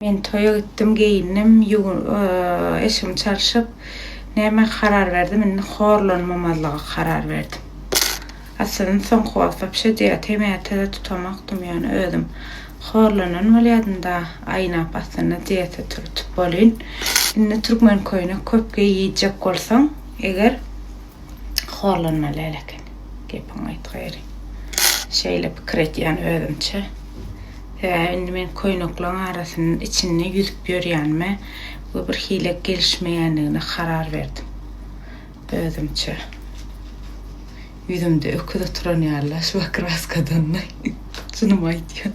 Men toýa gitdim geýindim eşigim çalşyp näme karar berdim indi horlanmamazlyga karar berdim aslynda soňky wagtlap şo diýäte mätede tutanokdym ýöne özüm horlanan bolýadym da aýnap aslynda diýete tutup bolýn indi türkmen köýnek köp geýjek bolsaň eger horlanmaly eleken. Gepiň aýt gaýry. Şeýle pikir etýän özümçe. Sebäbi indi men köýnekleriň arasynyň içinde ýüzüp ýörýänime we bir hile gelişmeýändigine karar berdim. Özümçe. Ýüzümde öküz oturan ýaly şuba kraskadanmy? Çynymy aýtýan.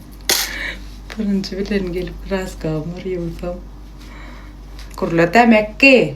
Birinji bilen gelip kraskamy ýuwsam. Gurla demek ki.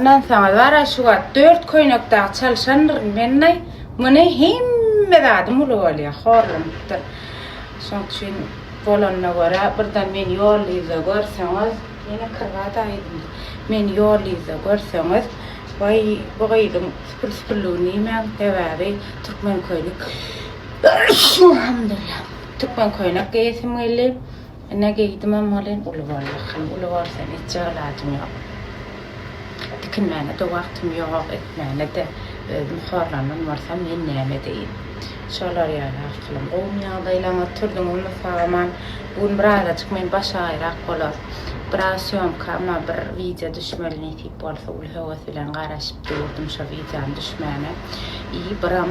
Ynansaňyz bara şu wagt dört köýnek dagy çalyşandyryn mennaý, muny hemme zadym uly bolýa, horlanypdyr. Şoň üçin bolanyna görä birden meni ýollyýza görseňiz, ýene kirbada aýdymdy. Meni ýollyýza görseňiz, waý bu gyzyň süpür-süpürligi nimäň sebäbi türkmen köýnek Türkmen köýnek geýesim geldi. Ine geýdimem welin uly boldy hany uly bolsa etjek ilajym ýok. Tikinmäne-de wagtym ýok, etmäne-de özüm horlandan bolsam men näme edeýin. Şolar ýaly arkalam gowumy ýagdaýlaryňyz oturdyňyzmy salam-an. Bu gün birazajyk men baş aýrak bolar. Biraz sýomkama bir wideo düşmeli nesip bolsa uly höwes bilen garaşyp durdum şo wideonyň düşmäne. I byram.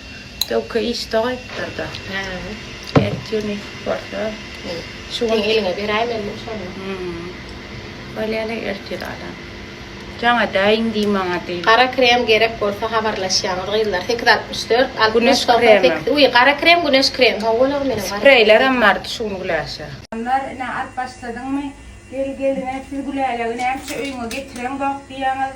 Döwke işde gaýtdyrda. Hä. Ät ýüni borsa bu. Şu gün eliňe beräýmelidim şony. Hum. Bolýa-le ertir alan. Jaňa däýiň diý maňa diý. Gara krem gerek bolsa habarlaşýaňyz gyzlar sekiz altmyş dört altmyş togsan sekiz uý gara krem güneş krem hawa bolagam meniň gara krem. Spreýlerem bardy şu gün Güläşe. Hanlar ine alyp başladyňmy? Gel gelin-ä siz Gülälegi nämişe öýüňe getireňzok diýýäňiz.